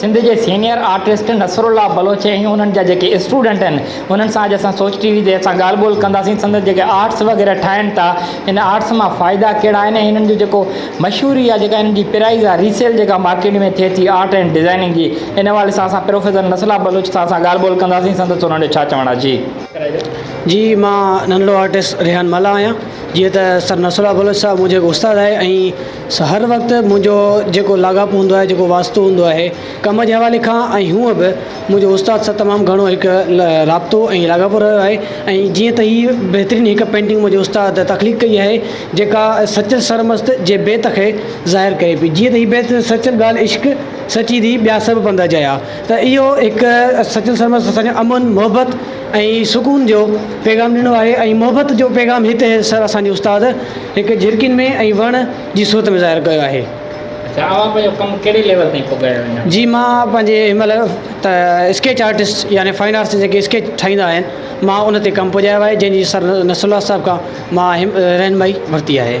سنڌ جي senior artist Nasrullah Baloch ۽ انهن جا جيڪي اسٽوڊنٽ آهن انهن سان اڄ اسان سوچ ٽي وي تي اسان ڳالهه ٻولهه ڪنداسين سندن جيڪي آرٽس وغيره ٺاهن ٿا ان آرٽس مان فائدا ڪهڙا آهن ۽ انهن جو جيڪو مشهوري يا جيڪا ان جي پرائيز آهي ري سيل جيڪا مارڪيٽ ۾ ٿئي ٿي آرٽ اينڊ ڊزائيننگ جي ان حوالي سان اسان پروفيسر نسلا بلوچ صاحب سان ڳالهه ٻولهه ڪنداسين سندس انهن جو ڇا چوڻ آهي جي. جي مان ننڍڙو آرٽسٽ ريحان ملاح آهيان جيئن ته سر نصرالله بلوچ صاحب منهنجو هڪ استاد آهي ۽ هر وقت منهنجو جيڪو لاڳاپو هوندو آهي جيڪو واسطو هوندو آهي ڪم جي حوالي کان ۽ هونء به منهنجو استاد سان تمام گهڻو هڪ رابطو ۽ لاڳاپو رهيو آهي ۽ جيئن ته هي بهترين هڪ پينٽنگ منهنجي استاد تخليق ڪئي آهي جيڪا سچل سرمست جي بيت کي ظاهر ڪري پئي جيئن ته هي بيت سچل ڳالهه عشق سچي ڌي ٻيا سڀ پنڌ اجايا ته اهو هڪ سچل سرمست اسان کي امن محبت ۽ سڪون جو پيغام ڏنو آهي ۽ محبت جو پيغام هت اسان جي استاد هڪ جهرڪين ۾ ۽ وڻ جي صورت ۾ ظاهر ڪيو آهي. اچھا اوهان پنهنجو ڪم ڪهڙي ليول تائين پڳايو آهي اڃا؟ جي مان پنهنجي هن مهل ته اسڪيچ آرٽسٽ يعني فائن آرٽس جيڪي اسڪيچ ٺاهيندا آهن مان ان تي ڪم پڄايو آهي جنهن جي سر نصر الله صاحب کان مان هيم رهنمائي ورتي آهي.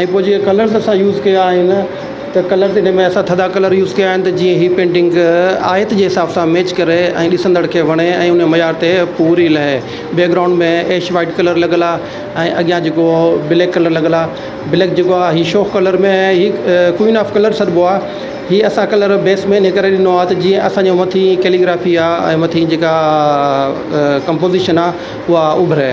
۽ پوء جيئن ڪلرز اسان يوز ڪيا آهن ته ڪلرز ان ۾ اسان ٿڌا ڪلر يوز ڪيا آهن ته جيئن هي پينٽنگ آيت جي حساب سان ميچ ڪري ۽ ڏسندڙ کي وڻي ۽ ان معيار تي پوري لهي بيڪگرائونڊ ۾ ايش وائٽ ڪلر لڳل آهي ۽ اڳيان جيڪو بليڪ ڪلر لڳل آهي بليڪ جيڪو آهي هي شوخ ڪلر ۾ هي ڪوئين آف ڪلر سڏبو آهي هي اسان ڪلر بيس ۾ ان ڪري ڏنو آهي ته جيئن اسانجو مٿي ڪيليگرافي آهي ۽ مٿي جيڪا ڪمپوزيشن آهي اها اڀري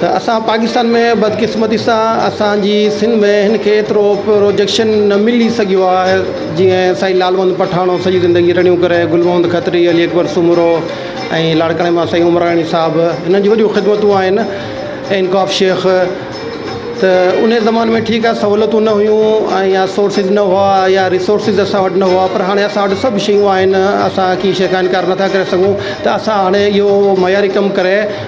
ته اسان پاڪستان ۾ بدقسمتي سان اسان جي سنڌ ۾ هن کي ايترو پروجيڪشن نه ملي سگهيو آهي جيئن سائين لالوند پٺاڻو سڄي زندگي رڙيون ڪري گل محمد کتري علي اڪبر سومرو ۽ لاڙڪاڻي مان سائين عمراڻي صاحب هنن جي وڏيون خدمتون آهن انڪاف شيخ ته انهي زماني ۾ ٺيڪ آهي سهولتون نه هيون ۽ يا سورسز نه هئا يا ريسورسز اسان وٽ نه هئا پر هاڻي اسان وٽ سڀ شيون آهن اسان ڪي شيخ انڪار نٿا ڪري سگهون ته اسان هاڻي اهو معياري ڪم ڪري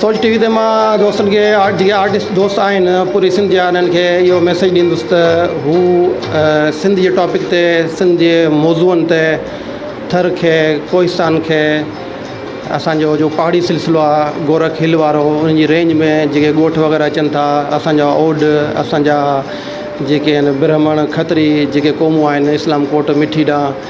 سوچ ٽي وي تي مان دوستن کي جيڪي آرٽسٽ دوست آهن پوري سنڌ جا انهن کي اهو ميسيج ڏيندس ته هو سنڌ جي ٽاپڪ تي سنڌ جي موضوعن تي ٿر کي ڪوهستان کي اسانجو جو پهاڙي سلسلو آهي گورک هل وارو ان جي رينج ۾ جيڪي ڳوٺ وغيره اچن ٿا اسانجا اوڏ اسانجا جيڪي آهن برهمڻ کتري جيڪي قومون آهن اسلام ڪوٽ مٺي ڏانهن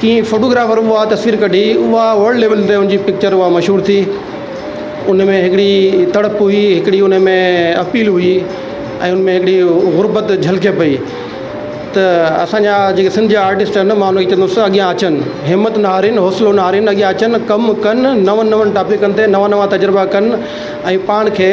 ڪي فوٽوگرافر اها تصوير ڪڍي اها ورلڊ ليول تي ان جي پڪچر اها مشهور ٿي ان ۾ هڪڙي تڙپ هئي هڪڙي ان ۾ اپيل هئي ۽ ان ۾ هڪڙي غربت جهلڪي پئي ته اسانجا جيڪي سنڌ جا آرٽسٽ آهن مان انکي چوندس اڳيان اچن همت نه هارين حوصلو نه هارين اڳيان اچن ڪم ڪن نون نون ٽاپڪن تي نوا نوا تجربا ڪن ۽ پاڻ کي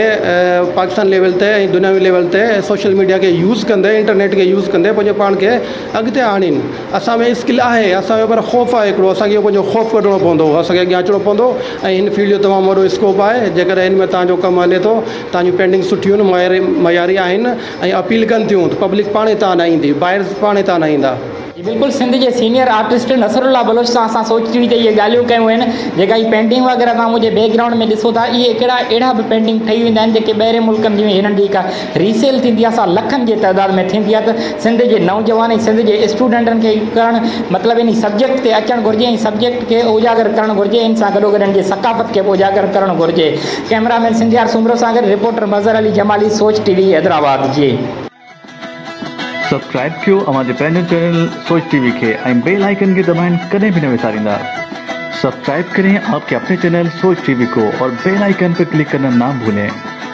پاڪستان ليول تي ۽ دنياوي ليول تي سوشل ميڊيا کي يوز ڪندي انٽرنيٽ کي يوز ڪندي پنهنجو پاڻ کي اڳتي آڻين اسان ۾ اسڪل آهي اسان ۾ پر خوف آهي هڪڙو اسان کي اهو پنهنجو خوف ڪڍڻو پوندو اسان کي اڳيان اچڻو پوندو ۽ هن فيلڊ جو تمام وڏو اسڪوپ آهي جيڪڏهن هن ۾ تهان جو ڪم هلي ٿو تهان جون پينڊنگ سٺيون آهن معياري معياري آهن ۽ اپيل ڪن ٿيون ته پبلڪ پاڻهي تهان ڏانهن ايندي بائرز پاڻهي تهان ڏانهن ايندا. جي بلڪل سنڌ جي senior artist Nasrullah Baloch سان اسان سوچي ويهي اهي ڳالهيون ڪيون آهن جيڪا هي پينٽنگ وغيره توهان منهنجي بيڪ گرائونڊ ۾ ڏسو ٿا اهي ڪهڙا اهڙا به پينٽنگ ٺهي ويندا آهن جيڪي ٻاهرين ملڪن جي هنن جي ڪا ري سيل ٿيندي آهي سا لکن جي تعداد ۾ ٿيندي آهي ته سنڌ جي نوجوان ۽ سنڌ جي اسٽوڊنٽن کي اهو ڪرڻ مطلب انهي سبجيڪٽ تي اچڻ گهرجي ۽ سبجيڪٽ کي اوجاگر ڪرڻ گهرجي ان سان گڏوگڏ انهن جي ثقافت کي به اوجاگر ڪرڻ گهرجي ڪئميرا مين سنڌيار سومرو سان گڏ reporter Mazhar Ali Jamali Soch T V Hyderabad جي. سبسڪرائب ڪيو اوهان جي پنهنجو چينل سوچ ٽي وي کي ۽ بيل آئيڪن کي دٻائڻ ڪڏهن به نه وساريندا سبسڪرائب ڪرين آپ ڪي اپني چينل سوچ ٽي وي ڪو اور بيل آئيڪن پي ڪلڪ ڪرنا نا ڀولين.